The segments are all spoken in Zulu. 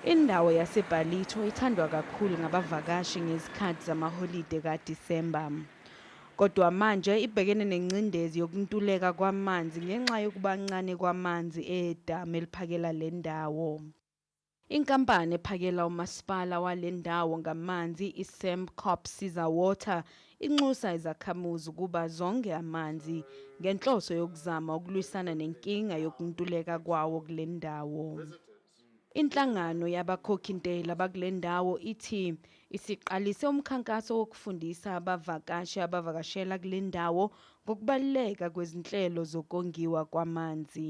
Indawo yaseBhalitho ithandwa kakhulu ngabavakashi ngezikhathi zamaholide kaDisemba. Kodwa manje ibhekene nengcindezi yokuntuleka kwamanzi ngenxa yokubancane kwamanzi edamu eliphakela le ndawo. Inkampani ephakela umasipala wale ndawo ngamanzi iSembcorp Siza Water inxusa izakhamuzi ukuba zonge amanzi ngenhloso yokuzama ukulwisana nenkinga yokuntuleka kwawo kule ndawo. Inhlangano yabakhokhintela bakule ndawo ithi isiqalise umkhankaso wokufundisa abavakashi abavakashela kule ndawo ngokubaluleka kwezinhlelo zokongiwa kwamanzi.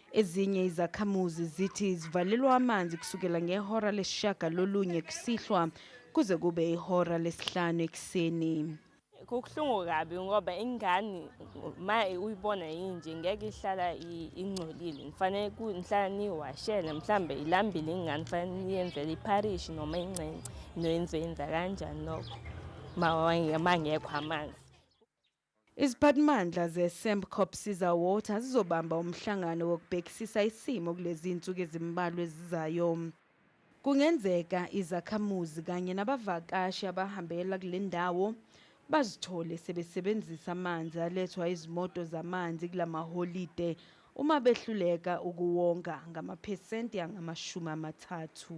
Ezinye izakhamuzi zithi zivalelwa amanzi kusukela ngehora lesishiyagalolunye kusihlwa kuze kube ihora lesihlanu ekuseni. Kubuhlungu kabi ngoba ingane ma uyibona yinje ngeke ihlala ingcolile. Ngifanele ngihlala niyiwashele mhlawumbe ilambile ingane fanele niyenzele ipharishi noma incenci noyenzenza kanjani lokho ma ngekho amanzi. Iziphathimandla zeSembcorp Siza Water zizobamba umhlangano wokubhekisisa isimo kulezinsuku ezimbalwa ezizayo. Kungenzeka izakhamuzi kanye nabavakashi abahambela kulendawo bazithole sebesebenzisa amanzi alethwa izimoto zamanzi kulamaholide uma behluleka ukuwonga ngamaphesenti angamashumi amathathu.